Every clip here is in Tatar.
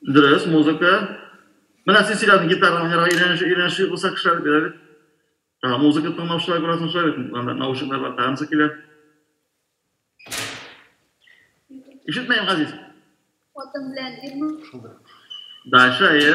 Дөрес, музыка. Менә син сөйләдең, гитара уйнарга өйрәнеш, өйрәнеш булса кешеләр бирә бит. Ә музыка тыңлаучылар күрәсең шулай бит, анда наушниклар бар, танцы килә. Ишетмәйм, Газиз. Хатын белән ирме? Шулдыр. Дальше, әйе.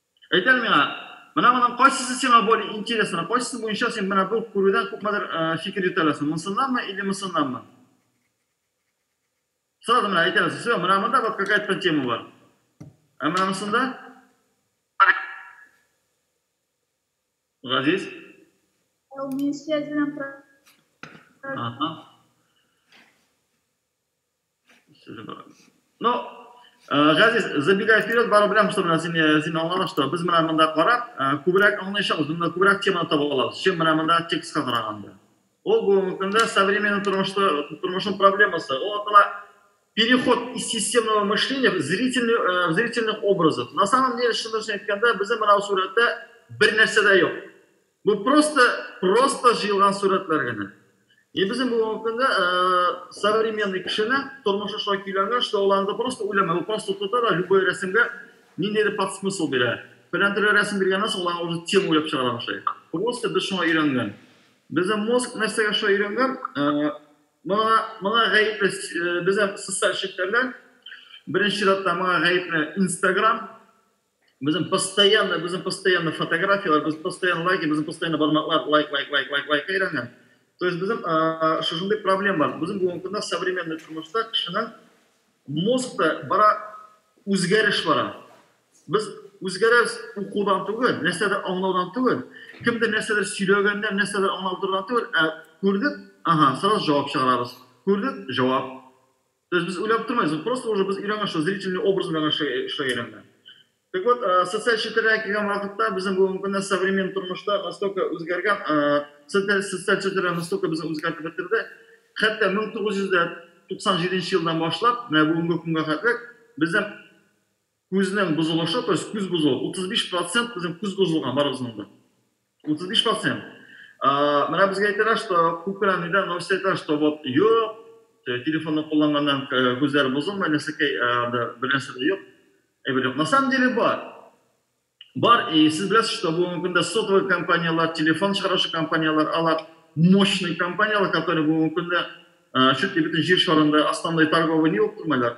Әйт әле миңа, менә моның кайсысы сиңа более интересно, кайсысы буенча син менә бу күрүдән күпмедер фикер йөртә аласың, монсыннанмы или монсыннанмы? Сразу менә әйтә аласың, все, менә монда вот какая-то там тема бар. Ә менә монсында? Газиз? Ә у меня связь белән Ага. Ну, э, Газиз, забегая вперед, барып беләм, что менә син, э, син аңлаган, что без менә монда карап, э, күбрәк аңлаячакбыз, монда күбрәк теманы таба алабыз, чем менә монда текстка караганда. Ул бүгенге көндә современный тормышта, тормышның проблемасы. Ул атала переход из системного мышления в зрительный, э, в зрительных образов. На самом деле, шундый әйткәндә, безнең менә сурәттә бер нәрсә дә юк. Бу просто просто җыелган сурәтләр генә. И безнең бүгенге көндә современный кешене тормышы шулай көйләнгән, что ул анда просто уйламый, ул просто тота да любой рәсемгә ниндидер подсмысл бирә. Фәлән төрле рәсем биргәннән соң ул аңа уже тема уйлап чыгара башлый. Просто без шуңа өйрәнгән. Безнең мозг нәрсәгә шулай өйрәнгән, моңа моңа гаепле безнең социаль челтәрләр, беренче чиратта моңа гаепле инстаграм, Безнең постоянно, безнең постоянно фотографияләр, без постоянно лайк, безнең постоянно бармаклар лайк, лайк, лайк, лайк, лайк әйләнгән. То есть безнең шушындый проблем бар. Безнең бүгенге көндә современный тормышта кешенең мозгта бара үзгәреш бара. Без үзгәрәбез укудан түгел, нәрсәдер аңлаудан түгел, кемдер нәрсәдер сөйләгәннән, нәрсәдер аңлап тордан түгел, ә күрдек, ага, сразу җавап чыгарабыз. Күрдек, җавап. То есть без уйлап тормыйбыз, вот просто уже без өйрәнгән шул зрительный образ белән эшләгән өйрәнгән. Так вот, э, социаль челтәрләргә килгән вакытта безнең бүгенге көндә современ тормышта настолько үзгәргән, э, социаль социаль челтәрләр настолько безне үзгәртеп бетерде. Хәтта 1997 елдан башлап, менә бүгенге көнгә хәтле безнең Күзнең бозылышы, то есть күз бозылу, 35 процент безнең күз бозылган барыбызның да. 35 процент. Менә безгә әйтәләр, что күп кенә нидә новость әйтәләр, что вот юк, телефонны кулланганнан күзләр бозылмый, нәрсәкәй анда бер нәрсә дә юк. Әйбер юк. На самом деле бар. Бар, и сез беләсез, что бүгенге көндә сотовый компанияләр, телефон чыгаручы компанияләр, алар мощный компанияләр, которые бүгенге көндә чуть ли бөтен җир шарында основной торговый не булып тормыйлар.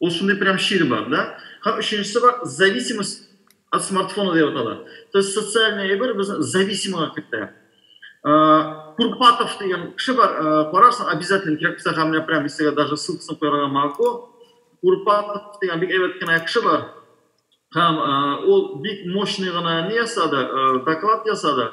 Ул шундый прям чир бар, да? Һәм өченчесе бар, зависимость от смартфона дип атала. То есть социальный әйбер безне зависимыйга кертә. Курпатов дигән кеше бар, карарсың, обязательно кирәк булса һәм менә прям истәгә даже ссылкасын куярга могу. Курпатов дигән бик әйбәт кенә кеше бар. Һәм ул бик мощный гына не ясады, доклад ясады.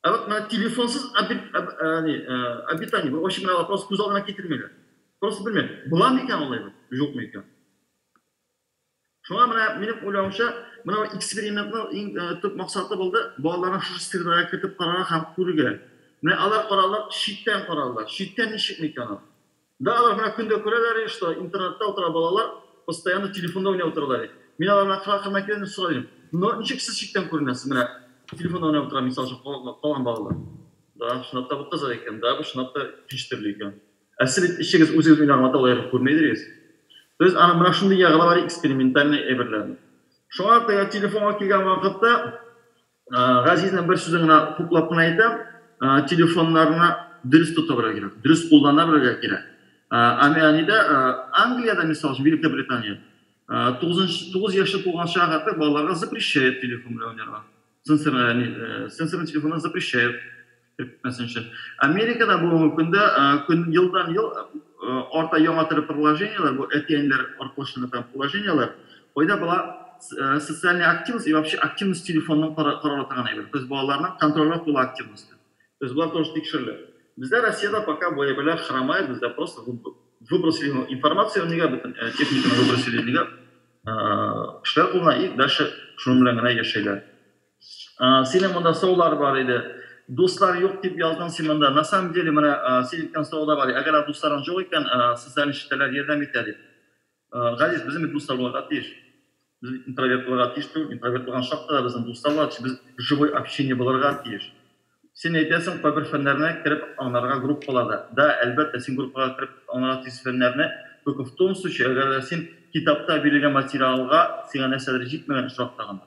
Ә вот менә телефонсыз обитание, очень менә вопрос күз алдына китермиләр. Просто белмим, була микән алай бит, юк микән? Шуңа менә минем уйлавымча, менә экспериментның иң төп максаты булды, балаларны шушы средага кертеп карарга һәм күрергә. Менә алар карарлар, читтән карарлар. Читтән ничек микән ул? Да алар моны көн дә күрәләр иде, что интернетта утыра балалар, постоянно телефонда уйнап утыралар иде. Мин аларны акрын-акрыннан киләм дә сорап йөрим, но ничек сез читтән күренәсез, менә телефонда уйнап утыра мисал өчен калган балалар? Да, чынлап та бу кызык икән, да, бу чынлап та кич төрле икән. Ә сез бит эчегез үзегез уйнаган маталыгы күрми идегез. То есть аның менә шундый ягы да бар, экспериментальный әйберләрнең. Шуңа күрә телефонга килгән вакытта Газизның бер сүзен генә хуплап кына әйтәм, телефоннарны дөрес тота белергә кирәк, дөрес куллана белергә кирәк. Әнидә Англиядә, мисал өчен, Великобритания, тугызынчы, тугыз яше тулган чак артык балаларга запрещают телефон белән уйнарга. Сенсорный телефоннар запрещают. Әйтмәсенче. Америкада бүгенге көндә көн елдан-ел арта яңа төрле приложениеләр, бу әти-әниләр аркылы эшләнгән там приложениеләр. Кайда бала социальная активность и вообще активность телефонның карарга торган әйбер. То есть балаларның контрольгә куела активносте. То есть болар тоже тикшерелә. Бездә Россиядә пока бу әйберләр хромает, бездә просто выбросили аны информация нигә бөтен техниканы выбросили нигә кешеләр кулына и дальше шуның белән генә яшәйләр. Синең монда саулар бар иде. Дуслар юк дип яздың син монда. На самом деле, менә син әйткән сау да бар. Әгәр дусларың җук икән, социаль челтәрләр ярдәм итә дип. Газиз, безнең бит дуслар булырга тиеш. Без бит интроверт булырга тиеш түгел. Интроверт булган чакта да безнең дуслар булырга тиеш. Без живой общение булырга тиеш. Син әйтәсең, кайбер фәннәрне кереп аңларга группаларда. Да, әлбәттә, син группага кереп аңларга тиеш фәннәрне. Только в том случае, әгәр дә син китапта бирелгән материалга сиңа нәрсәдер җитмәгән очракта гына.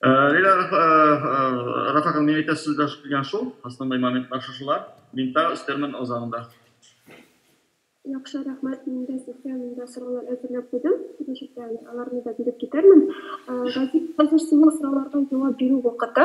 Лилия Рафаковна, мин әйтәсе сүз дә килгән шул. Основной моментлар шушылар. Мин тагы өстәрмен үз агымда. Яхшы, рәхмәт. Мин дә сезгә монда сораулар әзерләп куйдым. Киләчәктә аларны да биреп китәрмен. Газиз, хәзер синең сорауларга җавап бирү вакыты.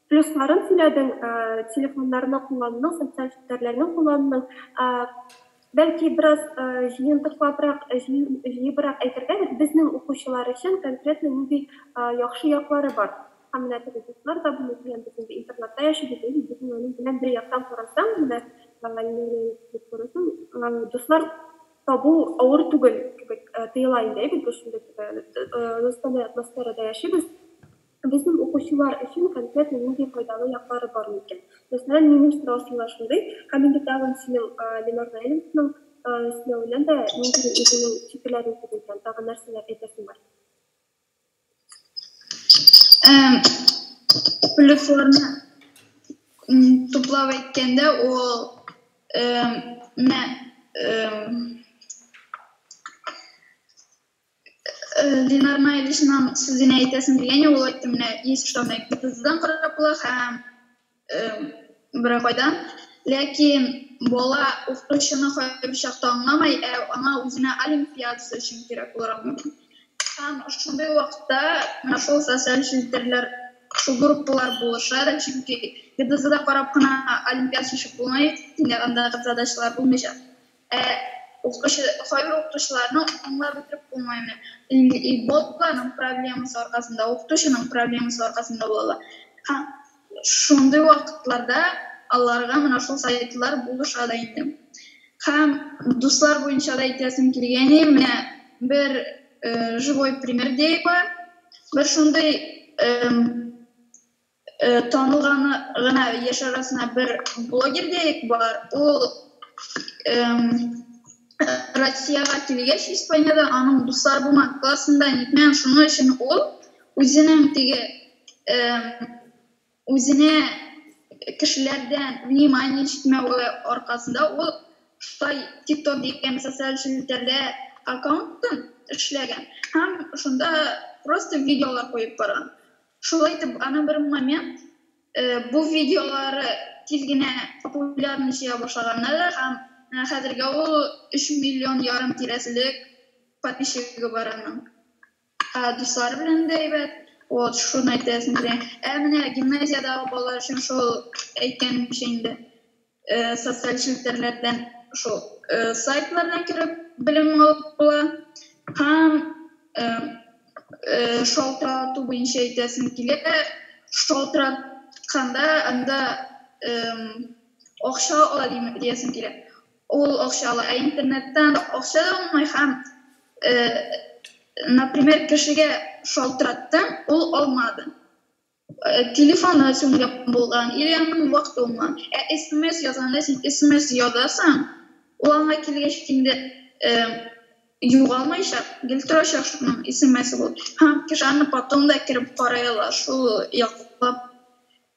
Плюсларын сөйләдең, телефоннарны куллануның, социаль челтәрләрне куллануның. Бәлки бераз җыентыклабрак, җыебрак әйтергәдер, безнең укучылар өчен конкретно нинди яхшы яклары бар? Һәм менә теге дуслар да булу белән без инде интернатта яшибез, әйе, бит, менә аның белән бер яктан карасаң, менә дип карасаң, дуслар табу авыр түгел кебек тоела инде, әйе бит, без шундый теге дустанәй атмосферада яшибез. Безнең укучылар өчен конкретно нинди файдалы яклары бар микән? Мәсәлән, минем сорау сиңа шундый, Камиле тагын синең Ленар Наилевичның эшләвенә дә нинди үзенең фикерләрен сизелгән, тагын нәрсәләр әйтәсең бар? Плюсларны туплап әйткәндә, ул менә Ленар Майлишның сүзенә әйтәсем килгәне ул әйтте менә есть что make гипотезадан караплы һәм берәр кайдан ләкин бала укытучыны кайбер чакта аңламай ә аңа үзенә олимпиадасы өчен кирәк булыр аңламый һәм шундый вакытта менә шул социаль челтәрләр шул группалар булыша да чөнки гдзда карап кына олимпиада шешеп булмый төньягындагы задачалар булмыйча Ә укучы, кайбер укытучыларны аңлап бетереп булмый менә. Инде ботларның проблемасы аркасында, укытучының проблемасы аркасында була ала. Һәм шундый вакытларда аларга менә шул сайтлар булыша да инде. Һәм дуслар буенча да әйтәсем килгәни, менә бер живой пример диәе бар. Бер шундый Танылган гына яшь арасына бер блогер дияек бар. Ул Россиягә килгәч, Испаниядә аның дуслар булмаган классында нитмәгән, шуның өчен ул үзенең теге үзенә кешеләрдән внимание җитмәве аркасында ул шулай тик-ток дигән социаль челтәрдә аккаунтын эшләгән һәм шунда просто видеолар куеп барган. Шулай итеп, аны бер момент бу видеолары тиз генә популярность җыя башлаганнар һәм хәзергә ул өч миллион ярым тирәселек подписчигы бар аның. Дуслары белән дә әйбәт, вот шуны әйтәсем килә. Ә менә гимназиядәге балалар өчен шул әйткәнемчә инде. Социаль челтәрләрдән шул сайтлардан кереп белем алып була. Һәм шалтырату буенча әйтәсем килә, шалтыратканда анда акча ала диясем килә. Ул акча ала, ә интернеттан акча да алмый һәм, например, кешегә шалтыраттым, ул алмады. Э, телефоны сүнгән булган или аның вакыты булмаган ә смс язганда син смс язасың ул аңа килгәч инде э, югалмыйча гел торачак шуның смс бул һәм кеше аны потом да кереп карай ала шул яклап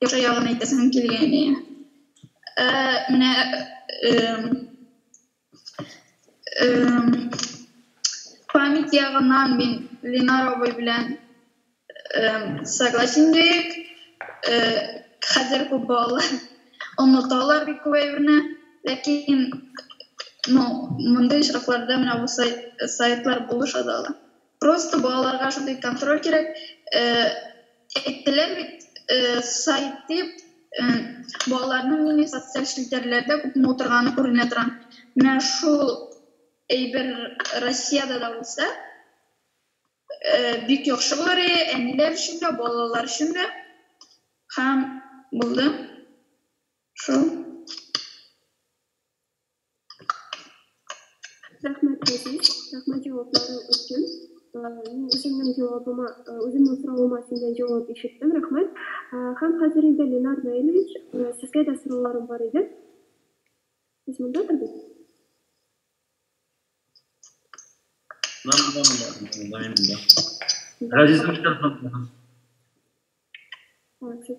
яхшы ягын әйтәсем килгәне э, менә э, память ягыннан мин ленар абый белән согласен идек хәзер күп балалар оныталар бит күп әйберне ләкин ну мондый очракларда менә бу сайтлар булыша да ала Просто балаларга шундый контроль кирәк. Э, әйттеләр бит, э, сайт дип, э, балаларның нинди социаль челтәрләрдә күпме утырганы күренә тора. Менә шул әйбер Россиядә дә булса, э, бик яхшы булыр иде, әниләр өчен дә, балалар өчен дә. Һәм булды. Шул. Рәхмәт, Газиз. Рәхмәт җавапларың өчен. Мин үземнең җавабыма, үземнең соравыма синнән җавап ишеттем. Рәхмәт. Һәм хәзер инде, Ленар Наилевич, сезгә дә сорауларым бар иде. Сез мондадыр бит? Мин монда, монда, монда. Газиз, нишләп соң? Сез